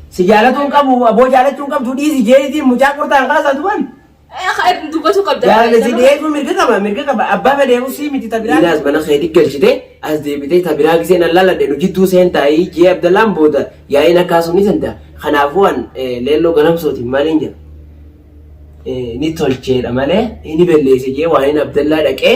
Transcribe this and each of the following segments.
Si jaalatuu hin qabu aboo jaalachuu hin qabdu dhiisi jeetiin mucaa qortaan kaasaa duban. Dubbatu qabda. Jaalala si dhiyeessuu mirga qaba mirga qaba abbaa fedhee usii miti tabiraa. Inaas mana keetii galchite as deebitee tabiraa giseen allaaladhe nu jidduu seentaayii jee abdallaan booda yaa'iin akkaasuu ni santa kanaafuu an leelloo ganamsootiin maaliin jedha. Ni tolcheedha malee ni belleesse jee waa'een abdallaa dhaqee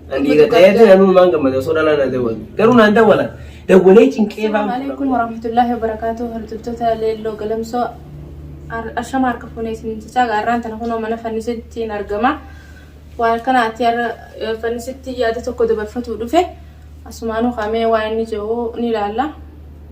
Ani dhiira ta'eetu namni waan gammada osoo dhalaa na dawwatu. Garuu naan dawwala. Dawwalee cinqee baan. Assalamu alaikum warahmatullahi wabarakatuh hordoftoota leelloo galamsoo Ar- ashama harka fuunee isin jechaa gaarraan tana kunoo mana fannisittiin argama waan kanaatti har'a eh, fannisitti yaada tokko dabarfachuu dhufe asumaanuu kaamee waan inni jedhu ni ilaalla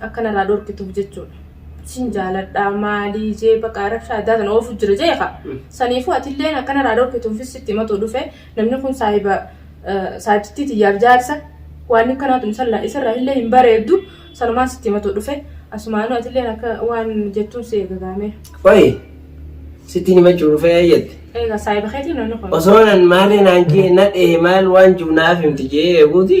Akka narraa dhorkituuf jechuudha. Sin jaaladhaa maalii jee baqa rabshaa addaa tana oofu jira jee ka. Saniifuu atilleen akka narraa dhorkituufis sitti himatuu dhufe namni kun saahiba saahibtittii tiyyaaf jaarsa waan akkanaatu insallaa isarraa illee hin bareeddu sanumaan sitti himatuu dhufe asumaanuu atilleen akka waan jettuun si eega gaamee. Qoyi sittiin himachuu dhufee eeyyatti. Eega saahiba keetii namni kun. Osoo nan maalee naan jee na dhee maal waan jiru naaf himti jee eeguuti.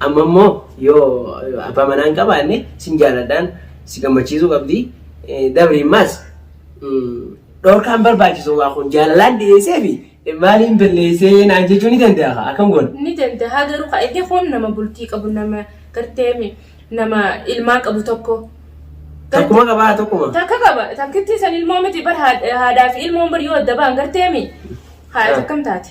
Amma immoo yoo abbaa manaa hin qabaanne sin jaaladhaan si gammachiisuu qabdi. Dabri immaas dhorkaan barbaachisu waa kun jaalalaan dhiyeessee fi maaliin balleessee naan jechuu ni danda'a akkam goona. Ni danda'a garuu ka inni kun nama bultii qabu nama garteemi nama ilmaa qabu tokko. Tokkuma qabaa tokkuma. Takka qaba takkittii san ilmoo miti bar haadhaa fi ilmoon bar yoo adda ba'an garteemi haadha takkam taate.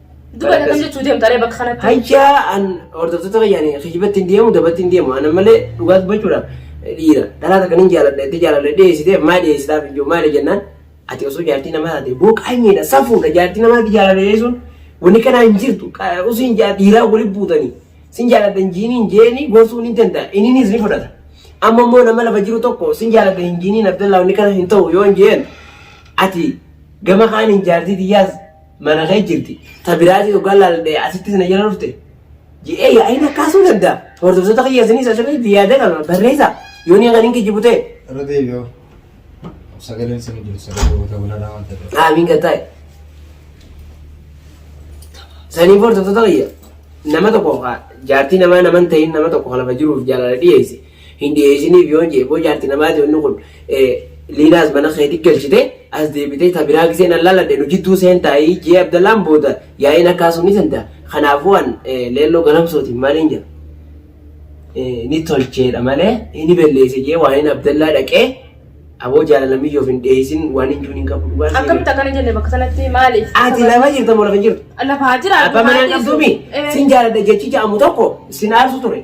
Duba akkam jechuu deemta ree bakka kanatti. Hayyaa an hordoftoota fayyaan kijibatti hin deemu dabatti hin deemu ana malee dhugaa dubbachuudhaaf dhiira dhalaa takka nin jaaladha itti jaaladha dhiyeessitee maa dhiyeessitaaf hin jiru maali jennaan ati osoo jaartii namaa taate booqaanyeedha safuudha jaartii namaa itti jaaladha dhiyeessuun wanni kanaa hin jirtu usiin dhiiraa wali buutanii sin jaaladha hin jiiniin jeeni gorsuun hin danda'a inninis ni fudhata amma immoo nama lafa jiru tokko sin jaaladha hin jiiniin abdallaa wanni kana hin ta'u yoo hin jeen ati gama kaaniin jaartii tiyyaas mana kee jirti. Ta biraatii dhugaa laallee asitti sana jala dhufte. Ji'ee yaa'iin akkaasuu danda'a. Hordoftoota kiyya isinii isa sirrii itti yaada kana barreessa. Yoo ni kan hin kijibu ta'e. Irra deebi'oo. Sagaleen isin jiru sagalee goota gulaalaa waan ta'eef. Aamiin kan ta'e. Sanii hordoftoota kiyya. Nama tokko jaartii namaa nama hin ta'in nama tokko lafa jiruuf jaalala dhiyeesse. hin dhiheesiniif yoon je'e boo jaarti namaati wanni kun liinaas mana keeti galchite as deebitee ta biraa gisee nan laladhe nu jidduu seentaayii jee abdallaan booda yaa'iin akkaa sun ni senta kanaafuu an leelloo galamsootiin maaliin jedha ni tolcheedha malee ni belleesse jee waan hin abdallaa dhaqee aboo jaalala miyyoof hin dhiheesin waan hin juuniin qabu dhugaa seenaa. Akkamitti akkana jenne bakka sanatti maaliif? Ati lafa jirta moo lafa hin jirtu? Lafaa jira. Abbaa manaan qabduumi sin jaaladha jechi ja'amu tokko sin aarsu ture.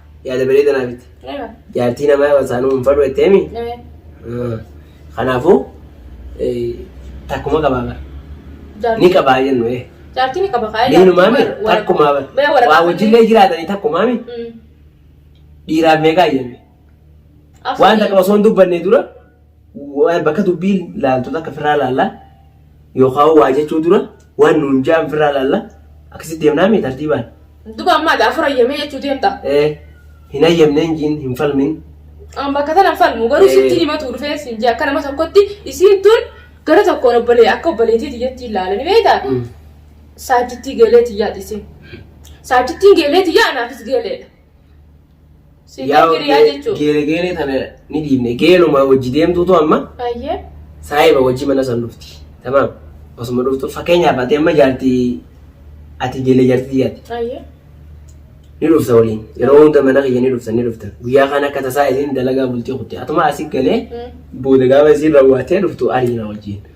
yaada bareeda naa bitte. Eewa. Jaartii namaa wasaanuu hin fadhu jettee mi? Ee. Ah. Kanaafuu eh, takkuma qabaa bara. Ni Jaartii. qabaa jennu ee. Jaartii ni qaba kaa. Diinumaa mi? Takkumaa bara. Bee waraqaa. Waa wajjillee jiraatanii takkumaa mi? Mm. Dhiiraaf meeqaa jennu? Absii. Waan takka osoo hin dubbanne dura Waa- bakka dubbii laaltu takka firraa laalla yookaan waa jechuu dura waan nuun ja'an firraa laalla akkasitti deemnaa mee tartiibaan Duba ammaa daa fura yamee jechuu deemta. ee hin hayyamne hin jiin hin falmin An bakka tana hin falmu garuu Eh. sitti himatu dhufee siin jee akka nama tokkotti isiin tun gara tokkoon obbolee akka obboleetii tiyyatti ilaalani beektaa? Mm. Saajjittii geelee tiyyaati isiin. Saajjittiin geelee tiyyaa anaafis geeleedha. Si Yaa giriyaa ge- jechuudha. geele geele tana ni dhiibne geeluma wajji deemtuutu amma Ayyee. saahiba wajji mana san dhufti tamaam osuma dhuftu fakkeenyaaf ati amma jaarti ati geele jaarti tiyyaati Ayyee. ni dhufta waliin yeroo hunda mana kiyya ni dhufta ni dhufta guyyaa kana akka tasaa isiin dalagaa bultii kutte atuma asi galee Mm. booda gaafa isiin raawwattee dhuftu ariina wajjin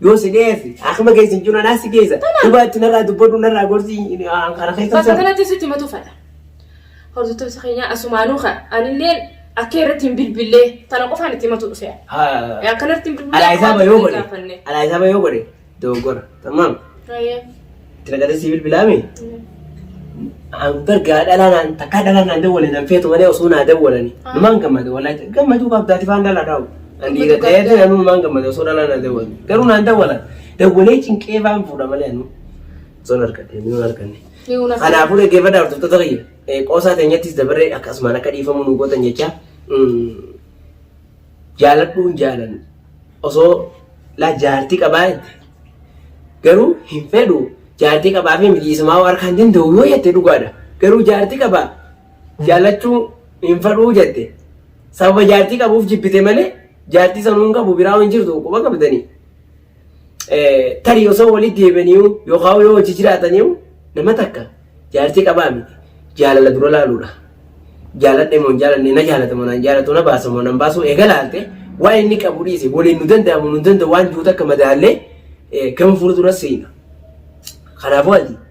Yoo si dheesse akkuma keessa hin jiru anaa si keessa. Dhugaatti narraa dubbadhu narraa gorsi kana keessa. Bakka kanatti sitti matu fadha. Hordoftoota keenyaa asumaanuu kan anillee akka irratti hin bilbillee tana qofaan itti matu dhufe. Akkanatti hin bilbillee. Alaa isaaba yoo godhe. Alaa isaaba yoo godhe dogoggora. Tammaam. Rayyee. Itti naqatee sii bilbilaami? Bargaa dhalaa naan takkaa dhalaa naan dawwalee nan feetu malee osoo naa dawwalani. Numaan gammade wallahi gammaduu qabdaati faan dhalaa dhaa'u. An dhiira ta'ee ta'e anuu numaan gammade osoo dhalaa naa dawwale. Garuu naan dawwala. Dawwalee cinqee faan fuudha malee anuu. Osoo hin argadhe inni hin arganne. Kanaafuu dhaggeeffadha hordoftoota kiyya. Qoosaa teenyattis dabarree akkasumaan akka dhiifamu nu gootan jecha. jaaladhuun jaalanna osoo laa jaartii qabaa jette garuu hin fedhu jaartii qabaa fi mitii isumaa warka hin danda'u yoo jette dhugaadha garuu jaartii qabaa jaalachuu hin fedhuu jette sababa jaartii qabuuf jibbite malee jaartii sanuun qabu biraa hin jirtu quba qabdanii Tarii osoo waliin deebi'aniiru yookaan yoo hojii jiraataniiru nama takka jaartii qabaa miti. Jaalala dura laaluudha. Jaaladhe moo hin jaalanne na jaalata moo naan jaalatu na baasa moo nan baasu eega laalte waa inni qabu dhiise waliin nu danda'amu nu danda'u waan jiru takka madaallee gama fuulduras seena. Kanaafuu ati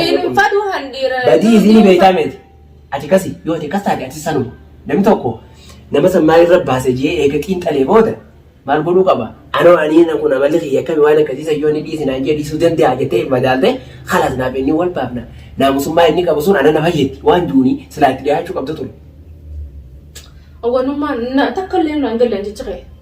Hin fadhu handiira. Badii isiin beektaa miti. Ati kasi yoo ati kas taate ati sanuma. Namni tokko nama san maal irra baase jee eega xiinxalee booda maal godhuu qaba? Anoo anii na kun amalli kiyya akkami waan akkasii san yoo inni dhiisi naan jee dhiisuu danda'a jettee madaalte kalaas naaf inni wal baafna. Naamusummaa inni qabu sun ana na fayyaddi waan duuni silaa itti dhiyaachuu qabda ture. Awwanummaan takka illee naan galle jecha kee.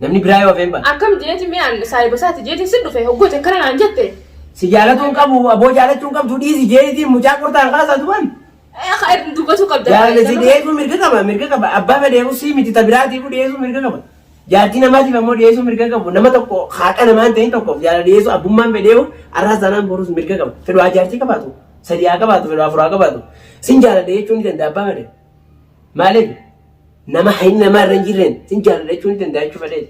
Namni biraa yoo hafeen bana. Akkam jeeti mee an saahiba isaati jeetiin sin dhufe hoggooti akkana naan jette. Si jaalatu hin qabu aboo jaalachuu hin qabdu dhiisi jeetiin mucaa qortaan kaasaa duban. Akka irra dubbatu qabda. Jaalala si dhiyeessuu mirga qaba mirga qaba abbaa fedheefu si miti ta biraatiifu dhiyeessuu mirga qaba. Jaartii namaatiif ammoo dhiyeessuu mirga qabu nama tokko haaqa namaan ta'in tokkoof jaalala dhiyeessuu abbummaan fedheefu arraas taanaan boruus mirga qaba. Fedhu haa jaartii qabaatu sadii haa qabaatu fedhu afuraa qabaatu sin jaalala jechuun ni danda'a abbaa fedhe. Maaliif nama hayni namaa irra hin jirreen sin jaaladha jechuun ni danda'a jechuu fedheeti.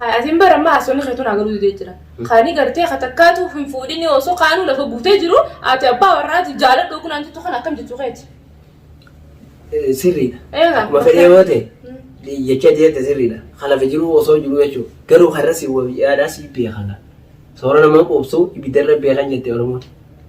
Atiin bara ammaa haasonni keetu naa galuu didee jira. Kaanii gartee ka takkaatu hin fuudhinii osoo kaanuu lafa guutee jiru ati abbaa warraati jaaladhu yookiin naan jettu kana akkam jechuu keeti. Eh, Sirriidha. Eegaa. Akkuma fedhee yoo ta'e Mm. jecha deemte sirriidha. Kan lafa jiru osoo jiru jechuudha. Garuu kan irra si yaadhaa si beekana. Soora nama quubsu ibiddarra beekan jette Oromoon.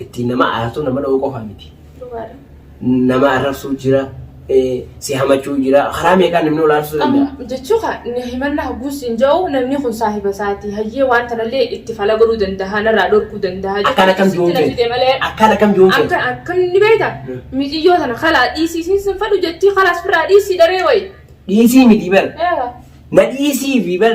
Ittiin nama aartu nama dha'uu qofa miti. Nama arrabsuu jira, si hamachuu jira, karaa meeqaan namni wal aarsuu danda'a. Jechuu kaa inni himannaa hogguu siin ja'u namni kun saahiba isaati hayyee waan tanallee itti fala godhuu danda'a narraa dhorkuu danda'a. Akkaan akkam jiruun feeti. Akkaan akkam jiruun feeti. Akka akka inni beekta mijiyyoo tana kalaa dhiisii siin sin fadhu jettii kalaas firraa dhiisii daree wayi. Dhiisii miti bar. Na dhiisii fi bar.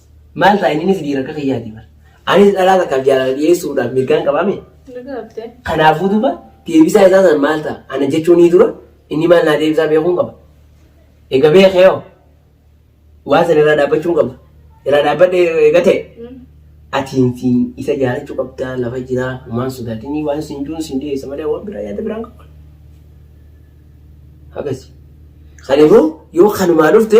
Maal ta'a inni si diira akka kiyyaati bar. Anis dhalaa takkaaf jaalala dhiyeessuudhaaf mirgaan qabaa mee? Mirga qabdee. Kanaafuu duuba deebisaa isaa san maal ta'a? Ana jechuun ni dura inni maal naa deebisaa beekuun qaba. Ega beekee hoo? Waan san irraa dhaabbachuun qaba. Irraa dhaabbadhe ega ta'e. Mm. Atiin siin isa jaalachuu qabdaa lafa jiraa waan sodaatinii waan siin jiruun siin dhiyeessa malee waan biraa yaada biraan qaba. Akkasi. Kanaafuu yoo kanumaa dhufte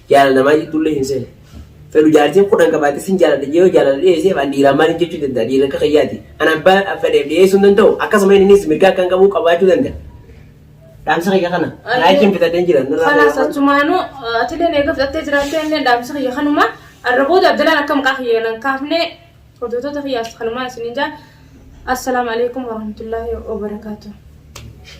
Jaalala namaa jidduullee hin seenu. Fedhu jaartiin kudhan qabaate sin jaaladha jee yoo jaalala dhiyeeseef an dhiiraan maaliin jechuu danda'a dhiirri akka kiyyaati. An abbaa fedheef dhiyeessuu hin danda'u akkasuma innis mirga akkan qabu qabaachuu danda'a. Dhaamsa kiyya kana. Anuu- Laakiin bitadheen jira. nurraa Kanaas fayyadamaa. achumaanuu atileen eega fudhattee jiraattee inni dhaamsa kiyya kanuma arra booda abdalaan akka maqaa kiyya nan kaafne hojjetoota kiyyaas kanumaan isiniin jaa assalaamu alaikum warahmatullaahi wabarakaatuh.